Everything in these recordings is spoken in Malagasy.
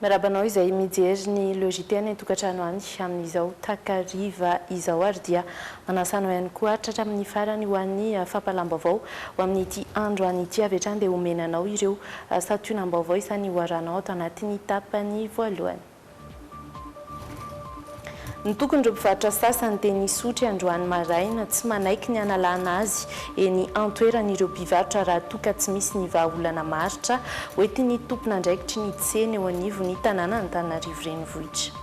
Miarahaba anao izay mijery ny Le JT any an-tokantrano any amin'izao takariva izao ary dia manasa anao ihany koa hatratra amin'ny farany ho an'ny fampahalam-baovao ho amin'ity androany ity avy hatrany dia homena anao ireo santionam-baovao izany hoarahanao ato anatin'ny tapany voalohany. Ny tokon'ireo mpivarotra sasany dia nisotry androany maraina, tsy manaiky ny hanalana azy eny an-toerana ireo mpivarotra raha toa ka tsy misy ny vahaolana maharitra hoentin'ny tompon'andraikitry ny tsena eo anivon'ny tanànan'Antananarivo Renivohitra.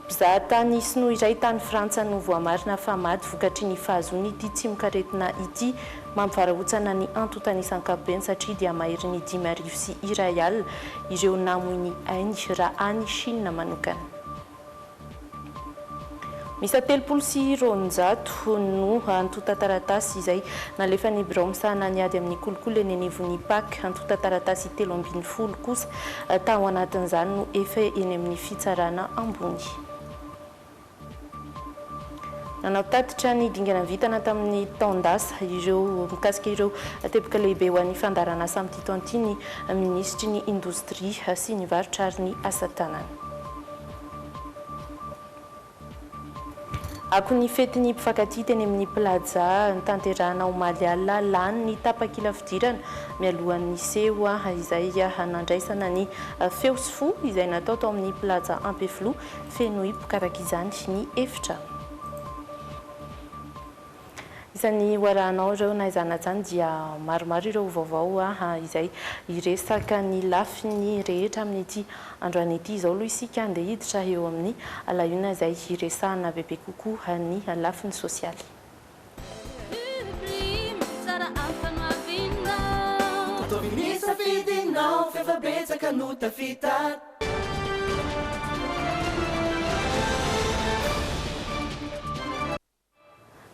Mpizahatany sinoa iray tany Frantsa no voamarina fa maty vokatry ny fahazoany ity tsimokaretina ity. Mampivarahontsana ny antontana isan-kapobeny satria dia maherin'ny dimy arivo sy iray alina ireo namoy ny ainy raha any Shina manokana. Miisa telopolo sy roanjato no antontan-taratasy izay nalefan'ny birao misahana ny ady amin'ny kolikoly eny anivon'ny Pac. Antontan-taratasy telo ambin'ny folo kosa tao anatin'izany no efa eny amin'ny fitsarana ambony. Nanantatitra ny dingana vitana tamin'ny taon-dasa ireo mikasika ireo teboka lehibe ho an'ny fandaharan'asa amin'ity taona ity ny minisitry ny Indostria sy ny varotra ary ny asa tanana. Akon'ny fetin'ny mpifankatia teny amin'ny Plaza nitanterahana omaly alina lany ny tapakila fidirana mialohan'ny seho izay nandraisana ny feo sy fo izay natao tao amin'ny Plaza Ampefiloha Feno hipoka araka izany ny efitra. Izany ho arahanao ireo na izany na izany dia maromaro ireo vaovao izay hiresaka ny lafiny rehetra amin'ity androany ity. Izao aloha isika handeha hiditra eo amin'ny lahiona izay hiresahana bebe kokoa ny lafiny sosialy. Ataovy ny safidinao f'efa betsaka no tafita.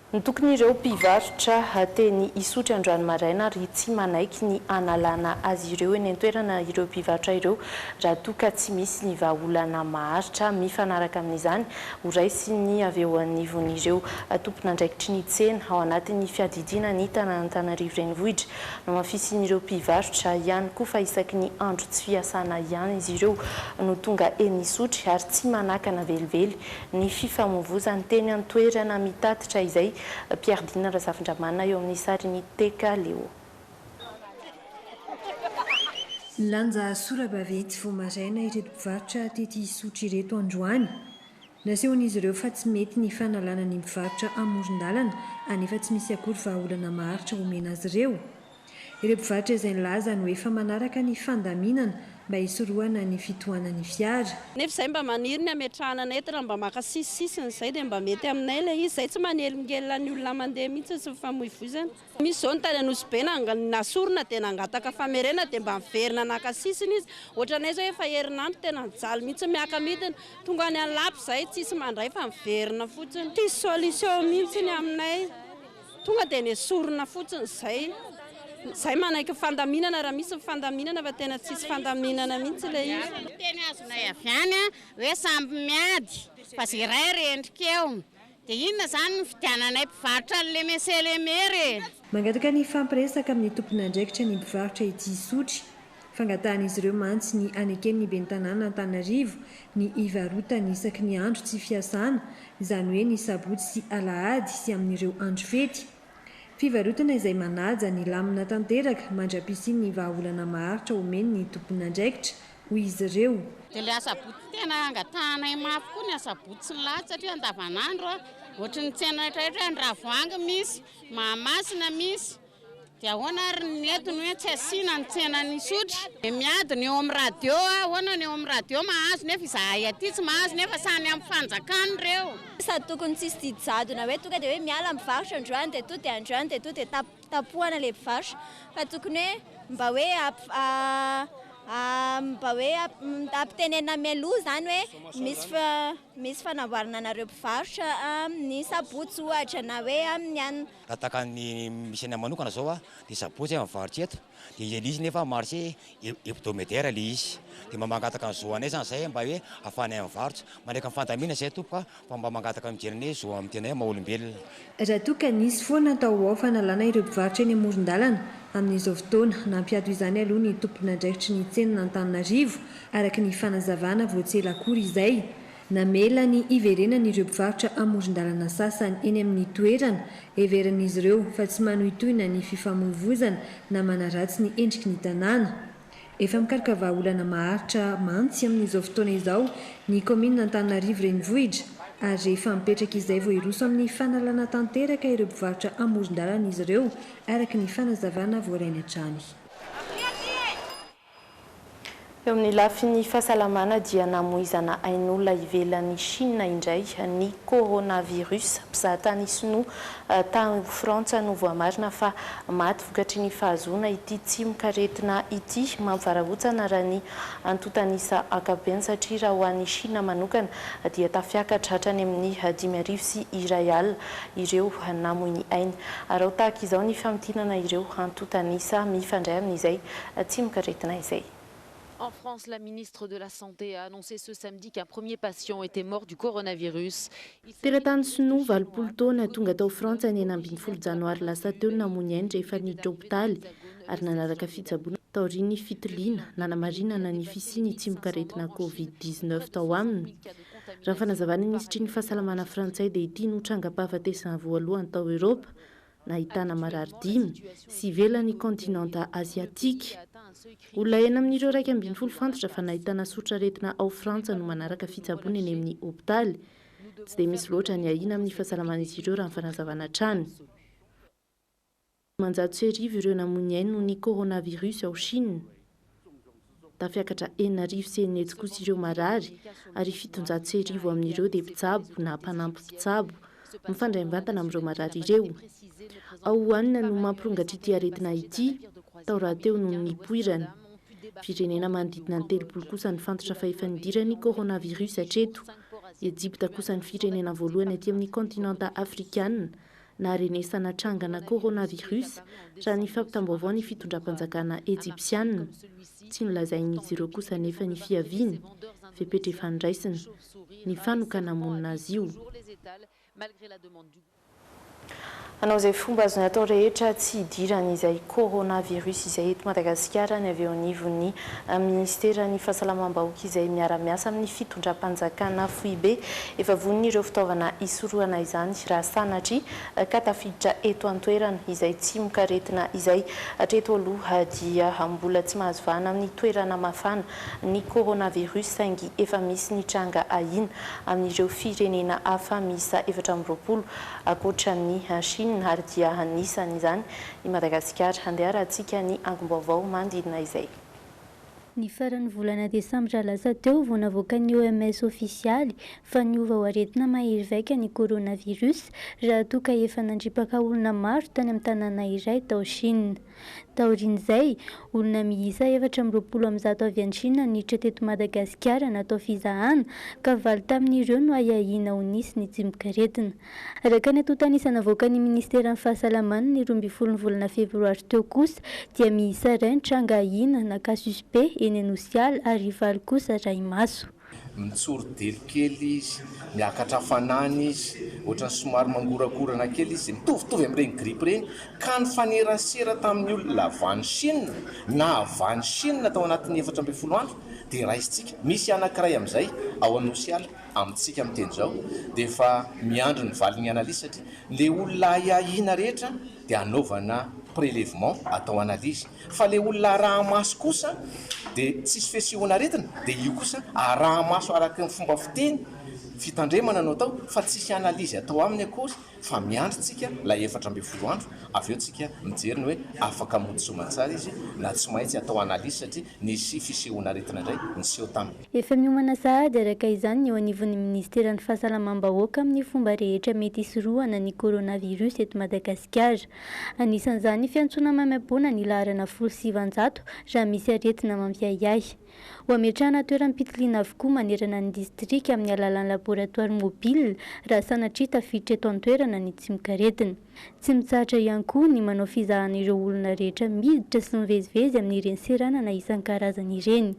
Ny tokin'ireo mpivarotra teny Isotry androany maraina ary tsy manaiky ny hanalana azy ireo eny an-toerana ireo mpivarotra ireo raha toa ka tsy misy ny vahaolana maharitra mifanaraka amin'izany ho raisiny avy eo anivon'ireo tompon'andraikitry ny tsena ao anatin'ny fiadidiana ny tanàn'Antananarivo Renivohitra. Nohamafisin'ireo mpivarotra ihany koa fa isaky ny andro tsy fiasana ihany izy ireo no tonga eny Isotry ary tsy manakana velively ny fifamoivozany teny an-toerana, mitatitra izay Pierre Dina Razafindramanana eo amin'ny sarin'i Teka Leo. Nilanja sora-bavy etsy vao maraina ireto mpivarotra tety Isotry ireto androany. Nasehon'izy ireo fa tsy mety ny fanalana ny mpivarotra amoron-dalana anefa tsy misy akory vahaolana maharitra omena azy ireo. Ireo mpivarotra izay nilazany ho efa manaraka ny fandaminana mba hisorohana ny fitohanan'ny fiara. Nefa izay mba maniry ny hametrahana anay eto raha mba maka sisisisiny izay dia mba mety aminay ilay izy. Izay tsy manelingelina ny olona mandeha mihitsy sy mifamoivoizana. Misy izao ny tany Anosibe na sorona dia nangataka famerenana dia mba niverina naka sisiny izy. Ohatranay izao efa herinandro tena mijaly mihitsy miaka midina. Tonga any Anlaby izay tsisy mandray fa miverina fotsiny. Tsisy solution mihitsy ny aminay. Tonga dia nesorina fotsiny izay. Izay manaiky ny fandaminana raha misy ny fandaminana fa tena tsisy fandaminana mihitsy ilay izy. Izay no teny azonay avy any hoe samy miady fa iray rendrika eo. Dia inona izany no fidiananay mpivarotra an'i Lemese Lemer e? Mangataka ny hifampiresaka amin'ny tompon'andraikitra ny mpivarotra ety Isotry. Fangatahan'izy ireo mantsy ny haneken'ny ben'ny tanàna Antanarivo ny hivarotany isaky ny andro tsy fiasana, izany hoe ny sabotsy sy alahady sy amin'ireo andro fety. Fivarotana izay manaja ny lamina tanteraka mandra-pisian'ny vahaolana maharitra omeny ny tompon'andraikitra. hoy izy ireo. Dia ilay asabotsy tena angatahanay mafy koa ny asabotsy sy ny lahady satria andavanandro ohatry ny tsena rehetrarehetra hoe andravoahangy misy, mahamasina misy dia ahoana ary ny eto ny hoe tsy asiana ny tsenan'isotry. Dia miady ny eo amin'ny radio ahoana ny eo amin'ny radio mahazo nefa izahay aty tsy mahazo nefa samy amin'ny fanjakana ireo. Sady tokony tsisy didy jadona hoe tonga dia hoe miala ny mpivarotra androany dia toa dia androany dia toa dia tap. tapohana ilay mpivarotra fa tokony hoe mba hoe mba hoe ampitenenina mialoha izany hoe misy misy fanamboarana anareo mpivarotra amin'ny sabotsy ohatra na hoe amin'ny anona. Raha tahaka ny misy anay manokana izao a, dia sabotsy aho mivarotra eto, dia ilay izy nefa marché hebdomadaire ilay izy, dia mba mangataka ny zo anay izany izahay mba hoe ahafahanay mivarotra, mandray ka ny fandaminana izahay tompoko a, Fa mba mangataka mijery ny zo amin'ny tenay maha olombelona. Raha toa ka nisy foana atao ho ao fanalana ireo mpivarotra eny amoron-dalana amin'izao fotoana, nampiato izany aloha ny tompon'andraikitry ny tsenan'Antananarivo araka ny fanazavana vao tsy ela akory izay. Namela ny hiverenany ireo mpivarotra amoron-dalana sasany eny amin'ny toerana, heverin'izy ireo fa tsy manohitohina ny fifamoivozana na manaratsy ny endriky ny tanàna. Efa mikaroka vahaolana maharitra mantsy amin'izao fotoana izao ny kaominina Antananarivo Renivohitra ary rehefa mipetraka izay vao hiroso amin'ny fanalana tanteraka ireo mpivarotra amoron-dalana izy ireo, araka ny fanazavana voarainy hatrany. Eo amin'ny lafiny fahasalamana dia namoizana ain'olona ivelan'i Chine indray ny coronavirus. Mpizahatany sinoa tany Frantsa no voamarina fa maty. Vokatry ny fahazoana ity tsimok'aretina ity, mampivarahontsana raha ny antontan'isa ankapobeny satria raha ho an'i Shina manokana dia tafiakatra hatrany amin'ny dimy arivo sy iray alina ireo namoy ny ainy. Araho tahaka izao ny famintinana ireo antontan'isa mifandray amin'izay tsimok'aretina izay. En France, la ministre de la Santé a annoncé ce samedi qu'un premier patient était mort du coronavirus. Teratany sinoa valopolo taona tonga tao Frantsa ny enina ambin'ny folo janoary lasa teo no namoy ny ainy rehefa niditra hopitaly ary nanaraka fitsaboana taorian'ny fitiliana nanamarinana ny fisian'ny tsimokaretina covid dix neuf tao aminy. Raha ny fanazavan'ny minisitry ny fahasalamana frantsay dia ity no trangam-pahafatesana voalohany tao Eoropa nahitana marary dimy, sy ivelan'ny kaontinanta Aziatika. Olona enina amin'ireo iraika ambin'ny folo fantatra fa nahitana soritr'aretina ao Frantsa no manaraka fitsaboana eny amin'ny hopitaly. Tsy dia misy loatra ny ahiana amin'ny fahasalaman'izy ireo raha ny fanazavana hatrany. Dimanjato sy arivo ireo namoy ny ainy noho ny coronavirus ao Shina. Tafiakatra enina arivo sy enina hetsy kosa ireo marary ary fitonjato sy arivo amin'ireo dia mpitsabo na mpanampy mpitsabo mifandray mivantana amin'ireo marary ireo. Ao Wuhan no mampirongatr'ity aretina ity, tao rahateo no nipoirany. Firenena manodidina ny telopolo kosa no fantotra fa efa nidiran'ny coronavirus hatreto. Ejipta kosa ny firenena voalohany aty amin'ny kaontinanta afrikana Naharenesana trangana coronavirus, raha ny fampitam-baovaon'ny fitondram-panjakana Ejipsiana. Tsy nolazain'izy ireo kosa anefa ny fiaviany, fepetra efa noraisina, ny fanokana-monina azy io. Hanao izay fomba azony atao rehetra tsy hidiran'izay coronavirus izay eto Madagasikara ny avy eo anivon'ny Minisiteran'ny Fahasalamam-bahoaka izay miara-miasa amin'ny fitondram-panjakana foibe. Efa vonona ireo fitaovana hisorohana izany raha sanatria ka tafiditra eto an-toerana izay tsimokaretina izay. Hatreto aloha dia mbola tsy mahazo vahana amin'ny toerana mafana ny coronavirus saingy efa misy ny tranga ahiana amin'ireo firenena hafa miisa efatra amby roapolo ankoatran'i Chine ary dia anisan'izany I Madagasikara, handeha arahantsika ny angom-baovao manodidina izay. Ny faran'ny volana desambra lasa teo vao navoakan'ny OMS ofisialy fa niova ho aretina mahery vaika ny coronavirus raha toa ka efa nandripaka olona maro tany amin'ny tanàna iray tao Shina. Taorian'izay, olona miisa efatra amby roapolo amin'ny zato avy any Shina niditra teto Madagasikara natao fizahana ka valo tamin'ireo no ahiahiana ho nisy nitsimokaretina. Araka ny antontan'isa navoakan'ny Ministeran'ny Fahasalamana ny roa ambin'ny folo ny volana febroary teo kosa dia miisa iray ny tranga ahiana na cas suspect eny Anosiala ary valo kosa rahi-maso. Mitsori-delo kely izy, miakatra hafanana izy, ohatran'ny somary mangorakorana kely izy, mitovitovy amin'ireny grippe ireny, ka nifanerasera tamin'ny olona avy any Chine na avy any Chine tao anatin'ny efatra ambin'ny folo andro dia raisintsika, misy anankiray amin'izay ao Anosiala. amintsika amin'ny teny izao dia efa miandry ny valin'ny analyse satria ilay olona ahiahiana rehetra dia anaovana prelevement atao analyse fa ilay olona araha-maso kosa dia tsisy fesehoan'aretina dia io kosa araha-maso araka ny fomba fiteny fitandremana no atao fa tsisy analyse atao aminy akory fa miandry tsika lay efatra ambin'ny folo andro avy eo tsika mijery ny hoe afaka mody soamantsara izy na tsy maitsy atao analyse satria nisy fisehoana aretina indray niseho tam. Efa miomana sahady araka izany ny eo anivon'ny Ministeran'ny Fahasalamam-bahoaka amin'ny fomba rehetra mety hisorohana ny coronavirus eto Madagasikara. Anisan'izany ny fiantsoana maimaimpoana ny laharana folo sy sivinjato raha misy aretina mampiahiahy. Ho hametrahana toeram-pitiliana avokoa manerana ny distrika amin'ny alalan'ny laboratoires mobiles raha sanatria tafiditra eto an-toerana ny tsimokaretina. Tsy mitsahatra ihany koa ny manao fizahana ireo olona rehetra miditra sy mivezivezy amin'ireny seranana isan-karazany ireny.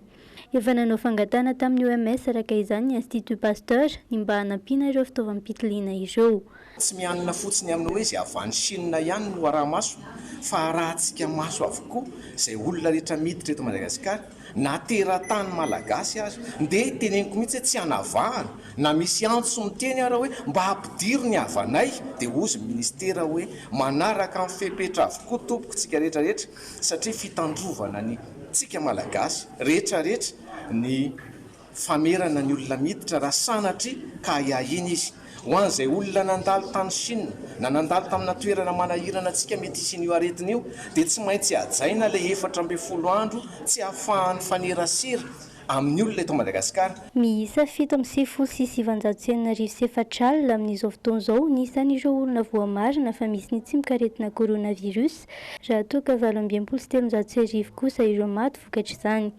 Efa nanao fangatahana tamin'ny OMS araka izany ny Institut Pasteur ny mba hanampiana ireo fitaovam-pitiliana ireo. Tsy mianina fotsiny amin'ny hoe izay avy any Chine ihany no araha-maso fa arahantsika maso avokoa izay olona rehetra miditra eto Madagasikara na teratany Malagasy aza. Ndeha teneniko mihitsy hoe tsy hanavahana na misy antso miteny ara hoe mba ampidiro ny havanay dia hozy Ministera hoe manaraka ny fepetra avokoa tompoko tsika rehetra rehetra satria fitandrovana ny tsika Malagasy rehetra rehetra ny Famerana ny olona miditra raha sanatria ka ahiahiana izy. Ho an'izay olona nandalo tany Chine na nandalo tamina toerana manahirana antsika mety hisian'io aretina io dia tsy maintsy hajaina ilay efatra ambin'ny folo andro tsy ahafahan'ny mifanerasera amin'ny olona eto Madagasikara. Miisa fito amby sivifolo sy sivinjato sy enina arivo sy efatra alina amin'izao fotoana izao ny isan'ireo olona voamarina fa misy ny tsimok'aretina coronavirus raha toa ka valo amby enimpolo sy telonjato sy arivo kosa ireo maty vokatr'izany.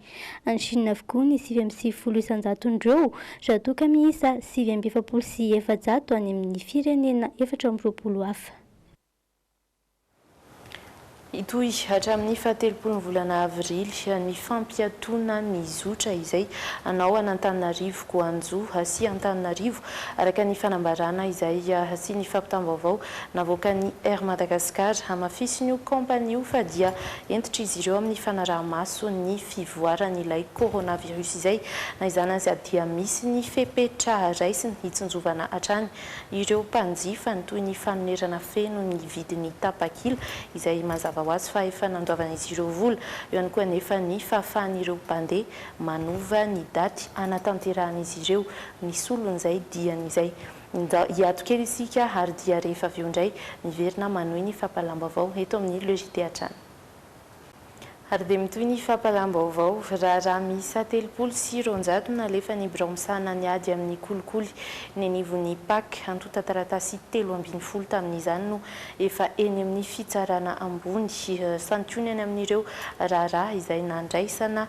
Any Chine avokoa ny sivy amby sivifolo isan-jaton'ireo, raha toa ka miisa sivy amby efapolo sy efajato any amin'ny firenena efatra amby roapolo hafa. Hitohy hatramin'ny fahatelopolon'ny volana avrily ny fampiatoana ny zotra izay hanao an'Antananarivo go Anjo sy Antananarivo, araka ny fanambarana izay sy ny fampitam-baovao navoakan'ny Air Madagascar. Hamafisin'io kaompania io fa dia Hentitr'izy ireo amin'ny fanaraha-maso ny fivoaran'ilay coronavirus izay, na izany aza, dia misy ny fepetra raisiny hitsinjovana hatrany ireo mpanjifany, toy ny fanonerana feno ny vidin'ny tapakila, izay mazava ho azy fa efa nandoavan'izy ireo vola, eo ihany koa anefa ny fahafahan'ireo mpandeha manova ny daty hanatanterahana izy ireo ny solon'izay diany izay. Ndao hiato kely isika ary dia rehefa avy eo indray miverina manohy ny fampahalam-baovao eto amin'ny Le JT hatrany. Ary dia mitohy ny fampahalam-baovao. Raharaha miisa telopolo sy roanjato no nalefan'ny birao misahana ny ady amin'ny kolikoly eny anivon'ny Pac. Antontan-taratasy telo ambin'ny folo tamin'izany no efa eny amin'ny fitsarana ambony. Santionany amin'ireo raharaha izay nandraisana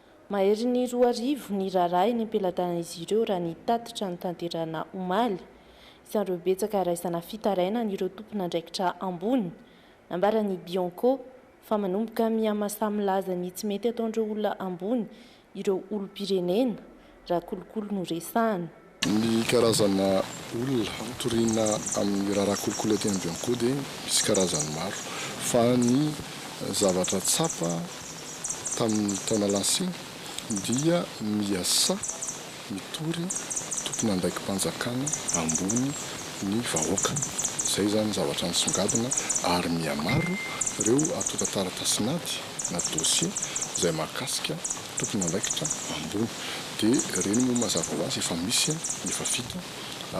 Mahery ny roa arivo ny raharaha eny am-pelatanan'izy ireo raha ny tatitra notanterahina omaly. Isan'ireo betsaka raisana fitarainana ireo tompon'andraikitra ambony. Nambaran'ny Bianco fa manomboka miha-masaha milaza ny tsy mety ataon'ireo olona ambony ireo olom-pirenena raha kolikoly no resahana. Ny karazana olona toriana amin'ny raharaha kolikoly aty Ambiankoho dia misy karazany maro, fa ny zavatra tsapa tamin'ny taona lasa iny dia miasà mitory tompon'andraiki-panjakana ambony ny vahoaka. Izay izany ny zavatra nisongadina ary mihamaro ireo antontan-taratasin'ady na dossiers izay mahakasika tompon'andraikitra ambony dia ireny moa mazava ho azy efa misy ny efa vita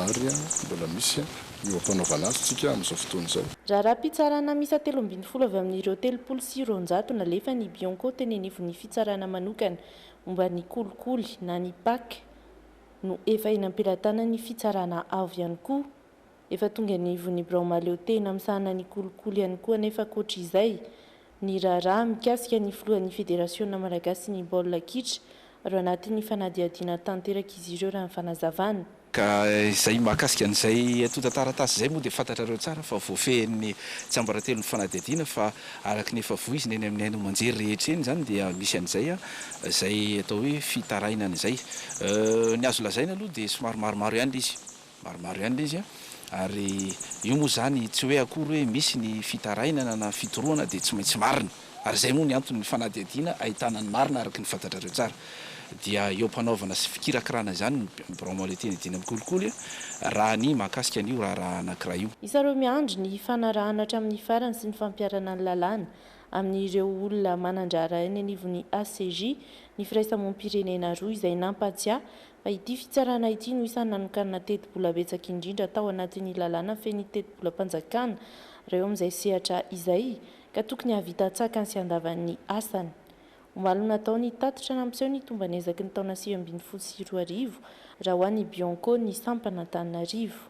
ary mbola misy ny ho ampanaovana azy tsika amin'izao fotoana izao. Raha raha-pitsarana miisa telo ambin'ny folo avy amin'ireo telopolo sy roanjato nalefa ny Bianco teny anivon'ny fitsarana manokana momba ny kolikoly na ny pac no efa eny am-pelatanan'ny fitsarana avo ihany koa. Efa tonga ny ivon'ny birao mahaleotena misahana ny kolikoly ihany koa anefa ankoatra izay, ny raharaha mikasika ny filohan'ny Federasiona malagasin'ny baolina kitra ary ao anatin'ny fanadihadiana tanteraka izy ireo raha ny fanazavana. Ka izay mahakasika an'izay antontan-taratasy izay moa dia fantatrareo tsara fa voafehin'ny tsiambaratelon'ny fanadihadiana fa araka ny efa voizina eny amin'ny haino aman-jery rehetra eny izany dia misy an'izay izay atao hoe fitarainana izay. Ny azo lazaina aloha dia somary maromaro ihany ilay izy. Maromaro ihany ilay izy an! Ary io moa izany tsy hoe akory hoe misy ny fitarainana na fitorohana dia tsy maintsy marina. Ary izay moa ny antony ny fanadihadiana ahitana ny marina araka ny fantatrareo tsara. Dia eo am-panaovana sy fikirakirana izany ny Birao Maoletin Edin amin'ny kolikoly an! raha ny mahakasika an'io raharaha anankiray io. Hisy ireo miandry ny hifanarahana hatramin'ny farany sy ny fampiharana ny lalàna amin'ireo olona manan-draharaha eny anivon'ny HCJ ny firaisamoam-pirenena roa izay nampatsiahy fa ity fitsarana ity no isan'ny nanokanana tetibola betsaka indrindra tao anatin'ny lalàna fen'ny tetibolam-panjakana raha eo amin'izay sehatra izay ka tokony hahavita an-tsakany sy an-davan'ny asany. Omaly no natao ny tatitra nampiseho ny tomban'ny ezaky ny taona sivy ambin'ny folo sy roa arivo raha ho an'ny Bianco ny sampan'Antananarivo.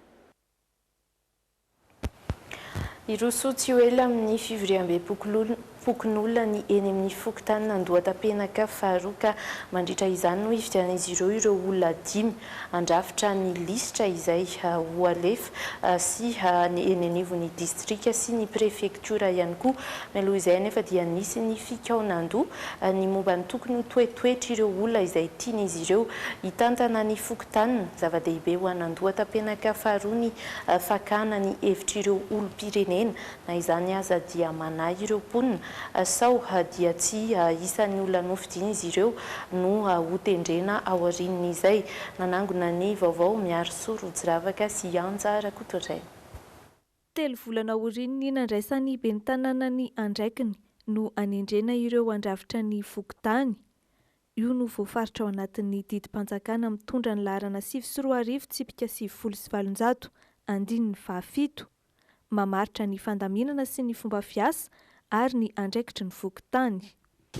Hiroso tsy ho ela amin'ny fivoriambem-pokonolona ny eny amin'ny fokontanin'Andohatapenaka faharoa ka mandritra izany no hifidianan'izy ireo ireo olona dimy handrafitra ny lisitra izay ho alefa sy eny anivon'ny distrika sy ny prefektiora ihany koa. Mialoha izay anefa dia nisy ny fikaonandoha ny momba ny tokony ho toetoetr'ireo olona izay tian'izy ireo hitantana ny fokontaniny. Zava-dehibe ho an'Andohatapenaka faharoa ny fakana ny hevitr'ireo olom-pirenena, na izany aza dia manahy ireo mponina sao dia tsy isan'ny olona nofidian'izy ireo no hotendrena aorian'izay. Nanangona ny vaovao Miarisoa Rojiravaka sy Anja Rakotoarena. Telo volana aorian'ny nandraisan'ny ben'ny tanàna ny andraikiny no anendrena ireo handrafitra ny fokontany. Io no voafaritra ao anatin'ny didim-panjakana mitondra ny laharana sivy sy roa arivo tsipika sivifolo sy valonjato, andininy fahafito. Mamaritra ny fandaminana sy ny fomba fiasa ary ny andraikitry ny fokontany.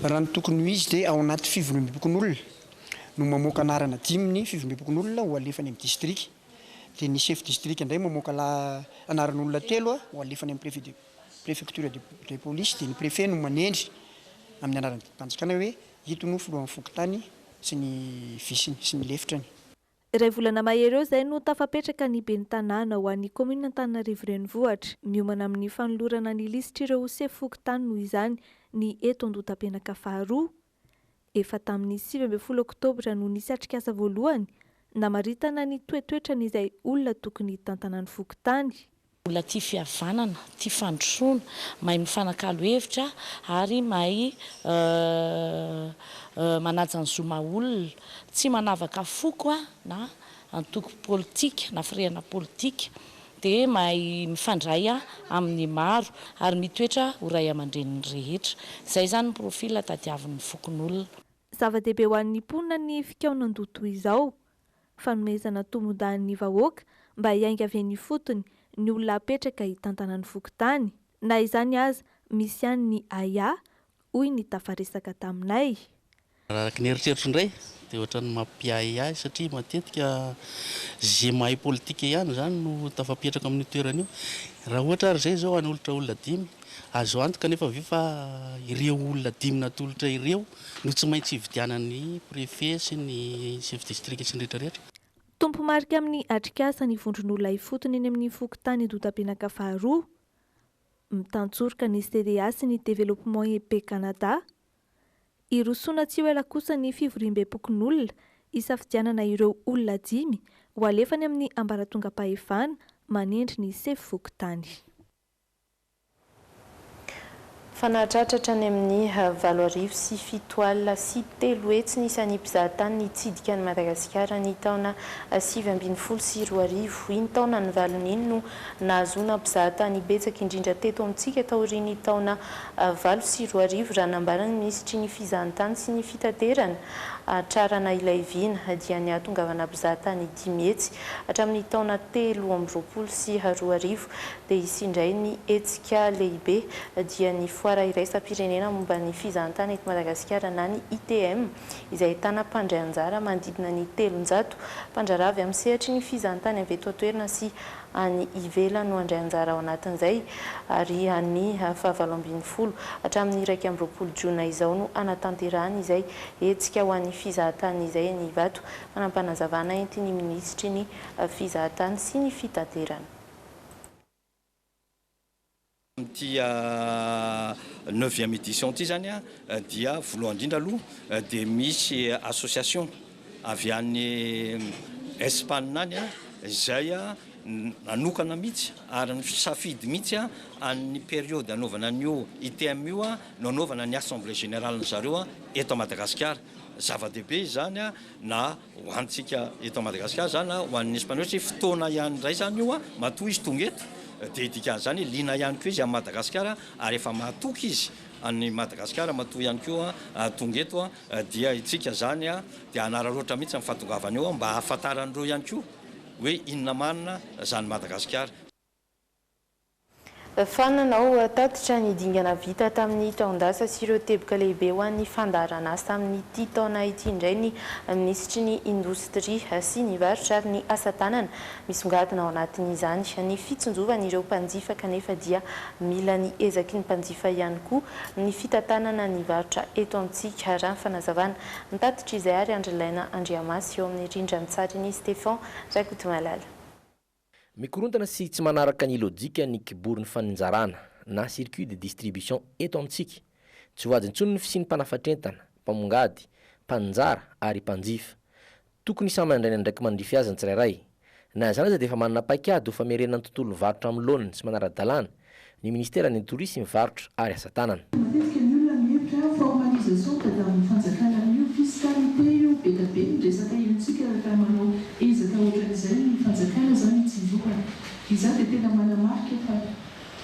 Raha ny tokony ho izy dia ao anaty fivoriambepokonolona no mamoaka anarana dimy ny fivoriambepokonolona ho alefany amin'ny distrika. Dia ny chef distrika indray mamoaka lah anaran'olona telo ho alefany amin'ny préfet de préfecture de de police dia ny préfet no manendry amin'ny anaran'ny didim-panjakana hoe Ito no filohan'ny fokontany sy ny viceny sy ny lefitrany. Iray volana mahery eo izay no tafapetraka ny ben'ny tanàna ho an'ny kaominina Antananarivo Renivohitra. Miomana amin'ny fanolorana ny lisitr'ireo sefo fokontany noho izany ny eto Andohatapenaka faharoa. Efa tamin'ny sivy ambin'ny folo oktobra no nisy atrikasa voalohany namaritana ny toetoetran'izay olona tokony hitantanan'ny fokontany. Olona tia fihavanana, tia fandrosoana, mahay mifanakalo hevitra ary mahay manaja ny zo maha olona. Tsy manavaka foko na antoko politika na firehana politika dia mahay mifandray amin'ny maro ary mitoetra ho ray aman-drenin'ny rehetra. Izay izany ny profil tadiavin'ny fokonolona. Zava-dehibe ho an'ny mponina ny fikaonan-doha toy izao. fanomezana tombondany ny vahoaka mba hiainga avy eny ifotony ny olona apetraka hitantana ny fokontany. Na izany aza, misy ihany ny ahiahy, hoy ny tafaresaka taminay. Araka ny eritreritro indray dia ohatran'ny mampiahiahy satria matetika ze mahay politika ihany izany no tafapetraka amin'io toerana io. Raha ohatra ary izay izao hanolotra olona dimy, azo antoka anefa ve fa ireo olona dimy natolotra ireo no tsy maintsy hividianan'ny prefe sy ny chef district sy ny rehetra rehetra. Tompo-marika amin'ny atrikasa ny vondron'olona ifotony eny amin'ny fokontany Doutapenaka faharoa. Mitantsoroka ny CDA sy ny Développement Épée Canada. Hirosoana tsy ho ela kosa ny fivoriambem-pokonolona hisafidianana ireo olona dimy ho alefany amin'ny ambaratongam-pahefana manendry ny sefo fokontany. Fa nahatratra hatrany amin'ny valo arivo sy fito alina sy telo hetsy ny isan'ny mpizahatany nitsidika an'i Madagasikara ny taona sivy ambin'ny folo sy roa arivo. Iny taona nivalona iny no nahazoana mpizahatany betsaka indrindra teto amintsika taorian'ny taona valo sy roa arivo raha nambaran'ny minisitry ny fizahantany sy ny fitaterana Hatrarana Ilaiviana dia nihatongavana mpizahatany dimy hetsy hatramin'ny taona telo amby roapolo sy roa arivo dia hisy indray ny hetsika lehibe, dia ny Foara Iraisam-pirenena momba ny Fizahantany eto Madagasikara na ny ITM, izay ahitana mpandray anjara manodidina ny telonjato mpandraharaha avy amin'ny sehatry ny fizahantany avy eto an-toerana sy any ivelany no handray anjara ao anatin'izay, ary ny fahavalo ambin'ny folo hatramin'ny iraika amby roapolo jona izao no hanatanterahana izay hetsika ho an'ny fizahantany izay eny Ivato, manam-panazavana entin'ny minisitry ny Fizahantany sy ny Fitaterana. Amin'ity neuvième édition ity izany dia voalohany indrindra aloha dia misy association avy any Espagne any izay nanokana mihitsy ary nisafidy mihitsy an'ny période hanaovana an'io ITM io no hanaovana ny assemblée générale-ny zareo eto Madagasikara. Zava-dehibe izany na. Ho antsika eto Madagasikara zany na ho an'ny Espaniola satria fotoana ihany indray zany io matoa izy tonga eto dia dikan'izany hoe liana ihany koa izy amin'i Madagasikara ary efa mahatoky izy an'i Madagasikara matoa ihany koa tonga eto dia itsika izany dia hanararaotra mihitsy ny fahatongavany eo mba hahafantaran'ireo ihany koa hoe inona marina izany Madagasikara Fa nanao tatitra ny dingana vita tamin'ny taon-dasa sy ireo teboka lehibe ho an'ny fandaharanasa amin'ity taona ity indray ny minisitry ny Indostria sy ny varotra ary ny asa tanana. Misongadina ao anatin'izany ny fitsinjovan'ireo mpanjifa kanefa dia mila ny ezaky ny mpanjifa ihany koa ny fitantanana ny varotra eto amintsika, raha ny fanazavana nitatitr'izay ary Andrilaina Andriamasy eo amin'ny rindran-tsarin'i Stephan Rakotomalala. Mikorontana sy tsy manaraka ny lojika ny kiborin'ny faninjarana na circuit de distribution eto amintsika. Tsy voady intsony ny fisian'ny mpanafatr'entana, mpamongady, mpaninjara ary mpanjifa. Tokony samy handray ny andraikiny mandrify azy ny tsirairay. Na izany aza dia efa manana paikady ho famerenana ny tontolon'ny varotra amin'ny laoniny tsy manara-dalàna ny Ministeran'ny Tourisme, Varotra ary Asa Tanana. Matetika ny olona mihevitra formalisation tadavin'ny fanjakana amin'io fiscalité io, be da be ny resaka henontsika rehefa manao ezaka ohatran'izay ny fanjakana zany hitsinjovana. Izaho dia tena manamarika fa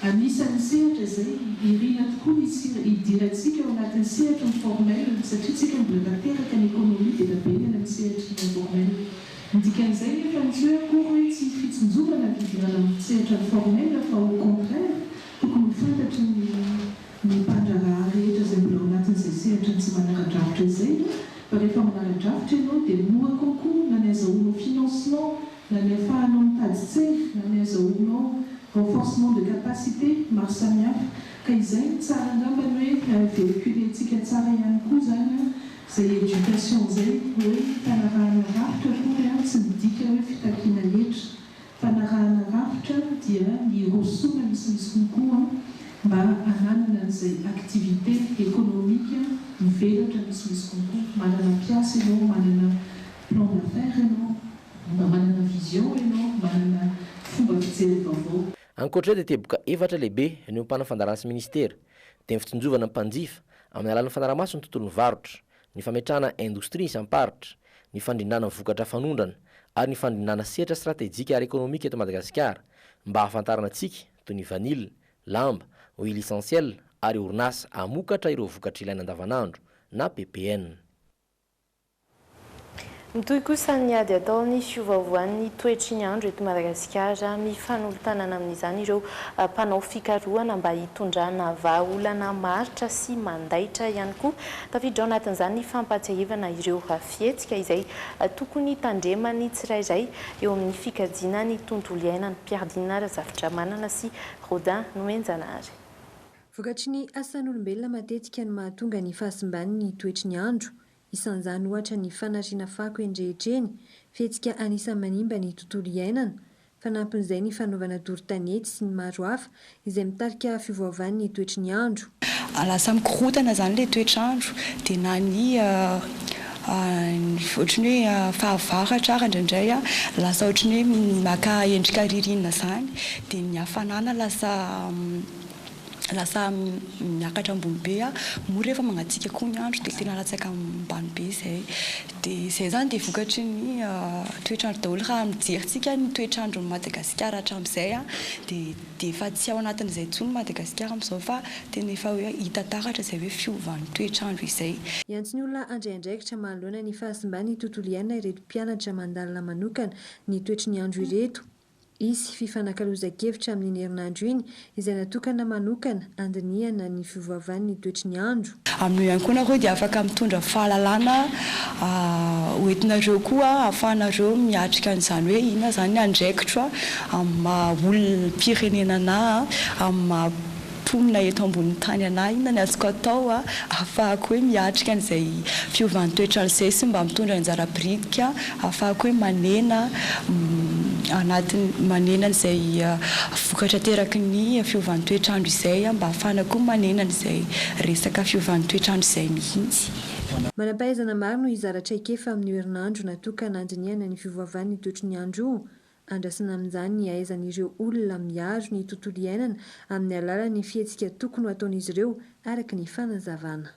anisan'ny sehatra izay irina tokoa ny hidirantsika ao anatin'ny sehatry ny formel satria tsika mbola tanteraka ny économie be da be ny any amin'ny sehatry ny informel. Ny dikan'izay nefa no tsy hoe akory hoe tsy hisy fitsinjovana ny fidirana amin'ny sehatra formel fa au contraire tokony ho fantatry ny ny mpandraharaha rehetra izay mbola ao anatin'izay sehatra ny tsy manara-drafitra izay hoe fa rehefa manara-drafitra ianao dia mora kokoa na ny azahoanao financement na ny afahanao mitady tsery na ny azahoanao renforcement de capacité maro samihafa ka izay no tsara angambany hoe véhiculer-ntsika tsara ihany koa izany an Zay education zay hoe fanarahana rafitra akory an tsy midika hoe fitakiana hetra, fanarahana rafitra dia ny hirosoana ny sy ny sy ny koa an mba hananana an'izay activité économique hivelatra ny sy ny sy ny koa, manana mpiasa ianao, manana plan d'affaires ianao, mba manana vision ianao, manana fomba fijery vaovao. Ankoatr'izay dia teboka efatra lehibe niompana fandaharan'ny sy minisitera. dia ny fitsinjovana ny mpanjifa amin'ny alalan'ny fanarahamaso ny tontolon'ny varotra, ny fametrahana indostria isam-paritra, ny fandrindrana vokatra fanondrana ary ny fandrindrana sehatra stratejika ara-ekonomika eto Madagasikara mba hahafantarana antsika toy ny vanille, lamba, huile essentielle ary orinasa hamokatra ireo vokatra ilaina andavanandro na ppn. Mitohy kosa ny ady ataon'ny fiovaovan'ny toetry ny andro eto Madagasikara. Mifanolo-tanana amin'izany ireo mpanao fikarohana mba hitondrana vahaolana maharitra sy mandaitra ihany koa. Tafiditra ao anatin'izany ny fampahatsiahivana ireo fihetsika izay tokony hitandreman'ny tsirairay eo amin'ny fikajiana ny tontolo iainana. Piardina Razafindramanana sy Rodin Nomenjanahary. Vokatry ny asan'olombelona matetika no mahatonga ny fahasimban'ny toetry ny andro. Isan'izany ohatra ny fanariana fako eny rehetra eny, fihetsika anisan'ny manimba ny tontolo iainana. Fanampin'izay ny fanaovana doro tanety sy ny maro hafa izay mitarika fiovaovan'ny toetry ny andro. Lasa mikorontana izany ilay toetr'andro dia na ny ohatran'ny hoe fahavaratra ary indraindray lasa ohatran'ny hoe maka endrika ririnina izany dia ny hafanana lasa lasa miakatra ambony be a, moa rehefa mangatsiaka koa ny andro dia tena latsaka ambany be izay, dia izay izany dia vokatry ny toetr'andro daholo, raha ny fijerintsika ny toetr'andron'i Madagasikara hatramin'izay a, dia dia efa tsy ao anatin'izay intsony Madagasikara amin'izao fa tena efa hoe hita taratra izay hoe fiovan'ny toetr'andro izay. Hiantso ny olona handray andraikitra manoloana ny fahasimban'ny tontolo iainana ireto mpianatra mandalina manokana ny toetry ny andro ireto. Hisy fifanakalozan-kevitra amin'iny herinandro iny izay natokana manokana handinihana ny fiovaovan'ny toetry ny andro. Amin'io ihany koa nareo dia afaka mitondra fahalalana ho entinareo koa ahafahanareo miatrika an'izany hoe inona izany ny andraikitro amin'ny maha olom-pirenena na amin'ny maha mponina eto ambonin'ny tany anah inona ny azoko atao ahafahako hoe miatrika an'izay fiovan'ny toetr'andro izay sy mba mitondra anjara biritika ahafahako hoe manena anatin'ny manena an'izay vokatra ateraky ny fiovan'ny toetr'andro izay mba ahafahana koa manena an'izay resaka fiovan'ny toetr'andro izay mihitsy. Manam-pahaizana maro no hizara traikefa amin'io herinandro natokana handinihana ny fiovaovan'ny toetry ny andro io Andrasana amin'izany ny hahaizan'ireo olona miaro ny tontolo iainana amin'ny alalan'ny fihetsika tokony ho ataon'izy ireo araka ny fanazavana.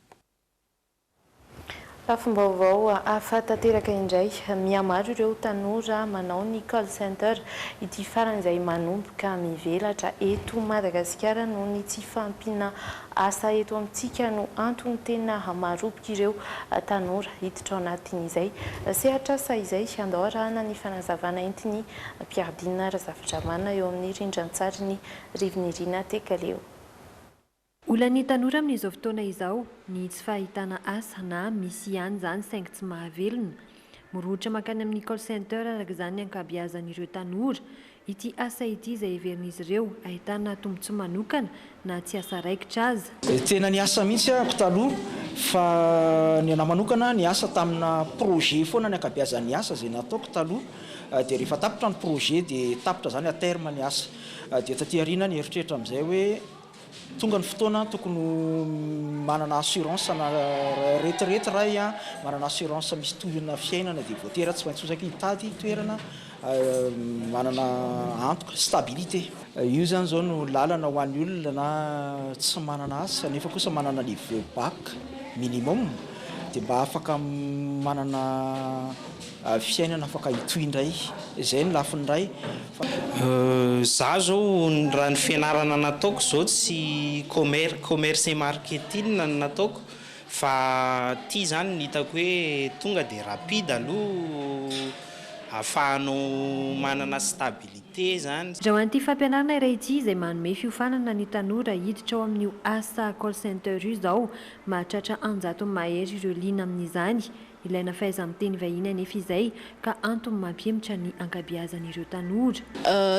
Lafim-baovao hafa tanteraka indray, mihamaro ireo tanora manao ny call center, ity farany izay manomboka mivelatra eto Madagasikara noho ny tsy fahampiana Asa eto amintsika no antony tena maroboka ireo tanora hiditra ao anatin'izay sehatr'asa izay. Andao arahana ny fanazavana entin'i Mpiadina Razafindramana eo amin'ny rindran-tsarin'ny Rivinirina Tekaleo. Olan'ny tanora amin'izao fotoana izao ny tsy fahitana asa na misy ihany izany saingy tsy mahavelona. Mirohotra mankany amin'ny call center araka izany ny ankabeazan'ireo tanora Ity asa ity izay heverin'izy ireo ahitana tombontsoa manokana na tsy asa raikitra aza. Tena niasa mihitsy aho taloha fa ny anah manokana niasa tamina projet foana ny ankabeazan'ny asa izay nataoko taloha dia rehefa tapitra ny projet dia tapitra izany à terme ny asa dia taty aoriana aho nieritreritra amin'izay hoe Tonga ny fotoana tokony ho manana assurance ana retraite ray a, manana assurance misy tohina fiainana dia voatera tsy maintsy osaky hitady toerana manana antoka, stabilité. Io zany zao no lalana ho an'ny olona tsy manana asa nefa kosa manana niveau bac minimum dia mba afaka manana Fiainana afaka hitohy indray. Izay ny lafiny iray fa. Izaho izao raha ny fianarana nataoko izao tsy commer commerce et marketing no nataoko fa ity izany no hitako hoe tonga dia rapide aloha ahafahanao manana stabilité izany. Izao an'ity fampianarana iray ity izay manome fiofanana ny tanora hiditra ao amin'io asa call center io izao, mahatratra an-jatony mahery ireo liana amin'izany. Ilaina fahaiza-miteny vahiny anefa izay ka antony mampihemotra ny ankabeazan'ireo tanora.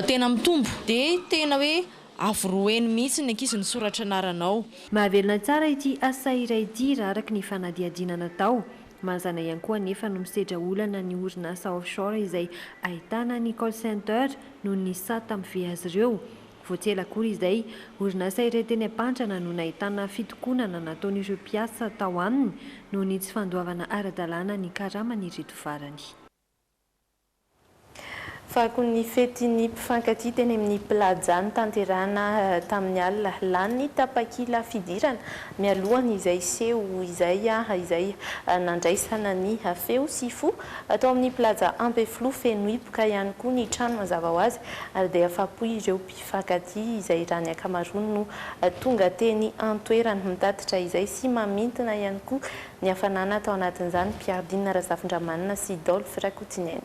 Tena mitombo dia tena hoe avoroheno mihitsy ny ankizy ny soratra anaranao. Mahavelona tsara ity asa iray ity raha araka ny fanadihadiana natao. Mazana ihany koa anefa no misedra olana ny orinasa offshore izay ahitana ny call center noho ny sata mivehy azy ireo. Vao tsy ela akory izay, orinasa iray teny Ampandrana no nahitana fitokonana nataon'ireo mpiasa tao aminy noho ny tsy fandoavana ara-dalàna ny karaman'ireto farany. Fako ny fety ny mpifankatia teny amin'ny Plaza notanterahina tamin'ny alina lany tapakila fidirana mialohan'izay seho izay izay nandraisana ny feo sy fo Tao amin'ny Plaza Ampefiloha, feno hipoka ihany koa ny trano mazava ho azy ary dia afa-po ireo mpifankatia izay raha ny ankamaroany no tonga teny an-toerana. Mitatitra izay sy mamintina ihany koa ny hafanana tao anatin'izany Piardine Razafindramanana sy Dolphy Rakotonena.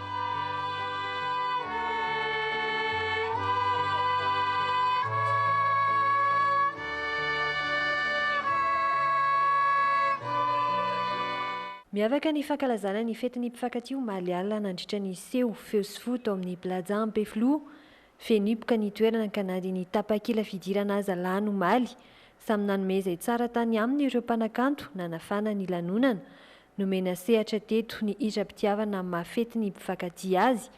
Miavaka ny fankalazana ny fetin'ny mpifankatia omaly alina nandritra ny seho feo sy fo tao amin'ny Plaza Ampefiloha. Feno hipoka ny toerana ka na dia ny tapakila fidirana aza lany omaly. Samy nanome izay tsara tany aminy ireo mpanakanto nanafana ny lanonana. Nomena sehatra teto ny hiram-pitiavana amin'ny maha fety ny mpifankatia azy.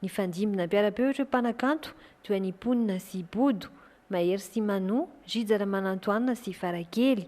Nifandimby nampiara-peo ireo mpanakanto toa an'i Mponina sy Bodo, Mahery sy Mano, Rija Ramanantoanina sy Farakely.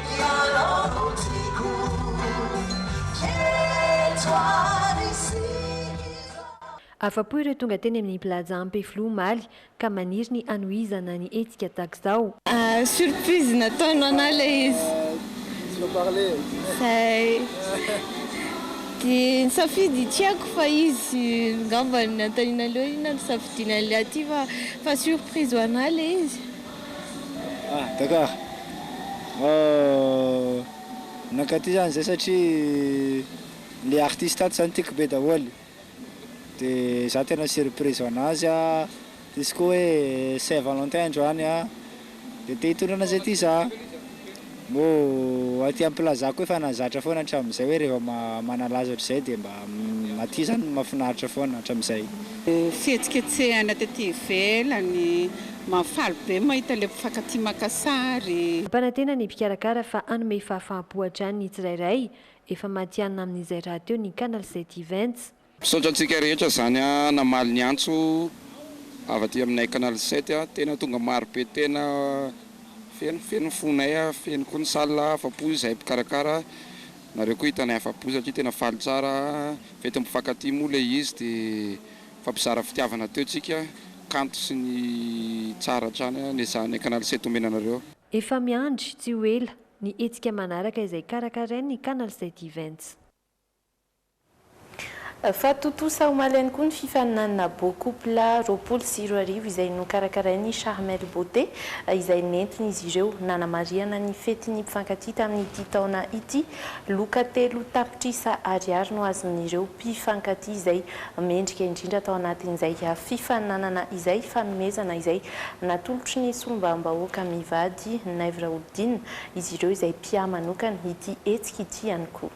Ianao no tiako Jejo ary Sikizo. Afa-po ireo tonga teny amin'ny Plaza Ampefiloha omaly ka maniry ny hanohizana ny hetsika tahak'izao. Surprise nataony ho anah ilay izy. Izay. Dia nisafidy ny tiako fa izy angamba no nanontaniana an'ireo hoe inona no safidiana an'ilay aty fa surprise ho anah ilay izy. Ah Dakar ah nankaty zany zay satria le artiste ato zany tiako be daholy de za tena surprise hoanazy izy koa hoe saint valentin androany an de te hitondra anazy aty za. Moa aty am-pilazako efa nahazatra foana hatramin'izay hoe rehefa manalaza ohatr'izay dia mba aty izany no mahafinaritra foana hatramin'izay. Fihetsiketsehana tety ivelany, mahafaly be mahita ilay mpifankatia maka sary. Mpanantena ny mpikarakara fa hanome fahafaham-po hatrany ny tsirairay, efa matihanina amin'izay rahateo ny Canal sept Events. Misaotra antsika rehetra zany namaly ny antso avy aty aminay canal sept a, tena tonga maro be tena feno feno ny fonay a, feno koa ny salle afapo izahay mpikarakara, nareo koa hitanay afapo satria tena faly tsara, fety mpifankatia moa le izy de mifampizara fitiavana teo tsika, kanto sy ny tsara hatrany a nesahanay canal sept omena anareo. Efa miandry tsy ho ela ny hetsika manaraka izay karakarain'ny canal sept events. Fa tontosa omaly ihany koa ny fifaninanana Beau Couple roapolo sy roa arivo izay nokarakarain'ny Charmel Beauté izay nentin'izy ireo nanamarihana ny fetin'ny mpifankatia tamin'ity taona ity. Loka telo tapitrisa ariary no azon'ireo mpifankatia izay mendrika indrindra tao anatin'izay fifaninanana izay, fanomezana izay natolotry ny solombavambahoaka Mivady Naivo Raholidina izy ireo izay mpiamanokana ity hetsika ity ihany koa.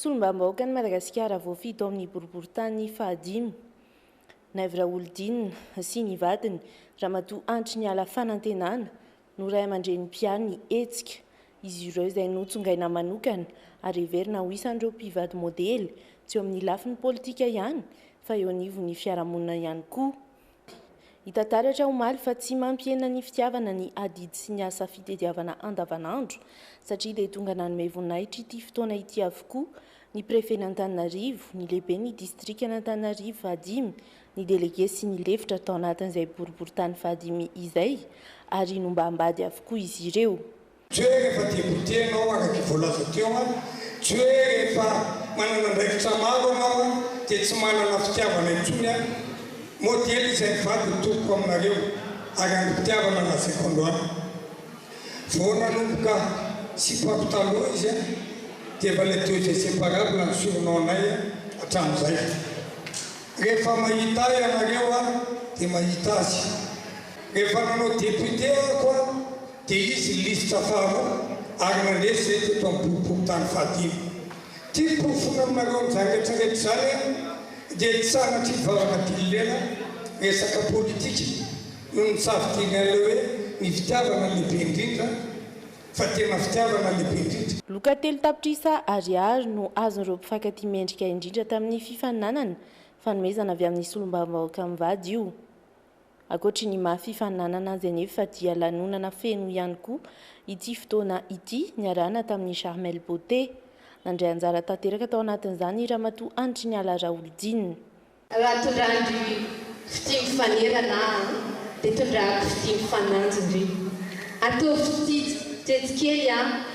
Solombavambahoakan'i Madagasikara voafidy ao amin'ny boriborintany fahadimy, Naivo Raholidinina sy ny vadiny, Ramatoa Andriniala Fanantenana, no ray aman-dreny mpiahy hetsika. Izy ireo izay notsongaina manokana ary heverina ho isan'ireo mpivady modely, tsy eo amin'ny lafiny politika ihany fa eo anivon'ny fiarahamonina ihany koa. Hita taratra omaly fa tsy mampihena ny fitiavana ny adidy sy ny asa fitediavana andavanandro satria dia tonga nanome voninahitra ity fotoana ity avokoa ny prefen'Antananarivo, ny lehiben'ny distrikan'Antananarivo fahadimy, ny delege sy ny lefitra tao anatin'izay boriborintany fahadimy izay ary nombam-bady avokoa izy ireo. Tsy hoe rehefa tia goûter ianao araka ny voalaza teo an, tsy hoe rehefa manana andraikitra maro ianao an dia tsy manana fitiavana intsony an, modely izay mivady ny tompoko aminareo ary angom-pitiavana lazaiko androany. Vao nanomboka sipa mpy taloha izy an dia efa les deux inséparables ny surnom anay an hatramin'izay. Rehefa mahita ahy ianareo an dia mahita azy. Rehefa nanao député aho ko an Dia izy ny lisitra faharoa ary mandresy izay teto amin'ny boriborintany fahadimy. Ity porofoina aminareo ny zavretra rehetra izany an, dia ny sanatria hivavaka pililena, resaka politika, no nitsafidianay ilay hoe ny fitiavana lehibe indrindra, fa tena fitiavana lehibe indrindra. Loka telo tapitrisa Ariary no azon'ireo mpifankatia mendrika indrindra tamin'ny fifaninanana, fanomezana avy amin'ny solombavambahoaka mivady io. Ankoatry ny maha fifaninanana azy anefa dia lanonana feno ihany koa ity fotoana ity niarahana tamin'ny Charmel Beauté. Nandray anjara tanteraka tao anatin'izany Ramatoa Andriniala Raholidina. Raha tondrahan-dry fitia mifanerana aho dia tondrahako fitia mifanandry ndry. Ataovy fitia jejikely aho.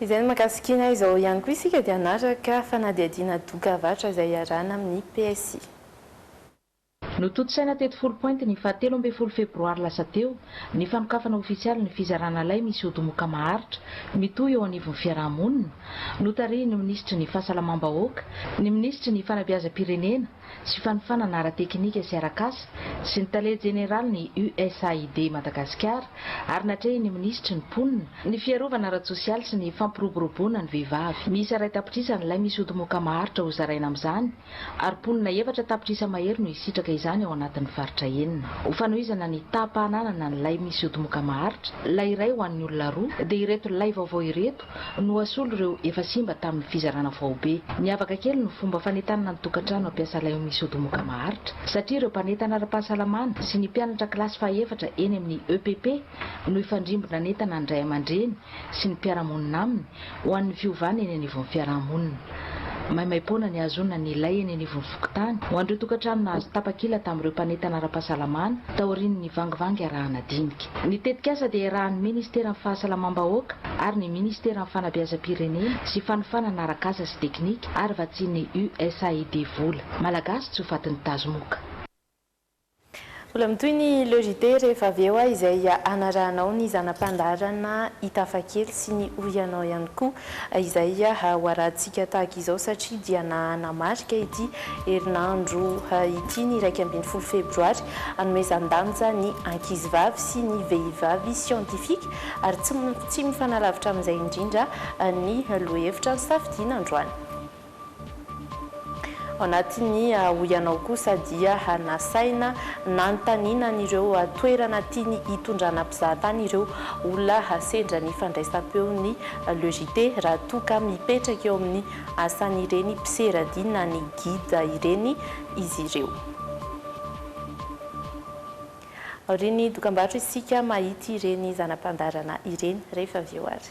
Izay no mahakasikiana izao ihany koa isika dia hanaraka fanadihadiana doka avarotra izay iarahana amin'ny PSI. Notontosaina teto Foulpointe ny fahatelo ambin'ny folo febroary lasa teo ny fanokafana ofisialy ny fizarana lay misy odi-moka maharitra mitohy eo anivon'ny fiaraha-monina, notarihin'ny minisitry ny Fahasalamam-bahoaka, ny minisitry ny Fanabeazam-pirenena, sy fanofanana ara-tekinika sy arak'asa sy ny tale jeneralin'ny USAID Madagasikara ary natrehin'ny minisitry ny Mponina, ny fiarovana ara-tsosialy sy ny fampiroboroboana ny vehivavy. Miisa iray tapitrisa ny lay misy odimoka maharitra hozaraina amin'izany ary mponina efatra tapitrisa mahery no hisitraka izany ao anatin'ny faritra enina. Ho fanohizana ny taham-pahananana ny lay misy odimoka maharitra, lay iray ho an'ny olona roa, dia ireto lay vaovao ireto, no asolo ireo efa simba tamin'ny fizarana faobe. Miavaka kely ny fomba fanentanana ny tokantrano hampiasa lay amin'ny sodomoka maharitra satria ireo mpanentana ara-pahasalamana sy ny mpianatra kilasy fahaefatra eny amin'ny EPP no hifandrimbona hanentana ny ray aman-dreny sy ny mpiara-monina aminy ho an'ny fiovana eny anivon'ny fiarahamonina. Maimaim-poana ny hahazoana ny lay eny anivon'ny fokontany ho an'ireo tokantrano nahazo tapakila tamin'ireo mpanentana ara-pahasalamana taorian'ny vangivangy arahanadinika. Ny tetikasa dia iarahan'ny Ministeran'ny Fahasalamam-bahoaka ary ny Ministeran'ny Fanabeazam-pirenena sy Fanofanana Arak'asa sy Teknika ary vatsian'ny USAID Vola Malagasy tsy ho fatin'ny tazomoka. Mbola mitohy ny Le JT rehefa avy eo izay hanarahanao ny zana-pandaharana i Tafakely sy ny Hoy Ianao ihany koa. izay hoarahantsika tahaka izao satria dia nanamarika ity herinandro ity ny iraika ambin'ny folo febroary hanomezan-danja ny ankizivavy sy ny vehivavy siantifika ary tsy tsy mifanalavitra amin'izay indrindra ny lohahevitra nisafidiana androany. Ao anatin'ny hoy anao kosa dia nasaina nanontaniana an'ireo toerana tiany hitondrana mpizahatany ireo olona sendra ny fandraisam-peon'ny Le JT raha toa ka mipetraka eo amin'ny asan'ireny mpisera dia na ny guide ireny izy ireo. Aorian'ny dokambarotra isika mahita ireny zana-pandaharana ireny rehefa avy eo ary.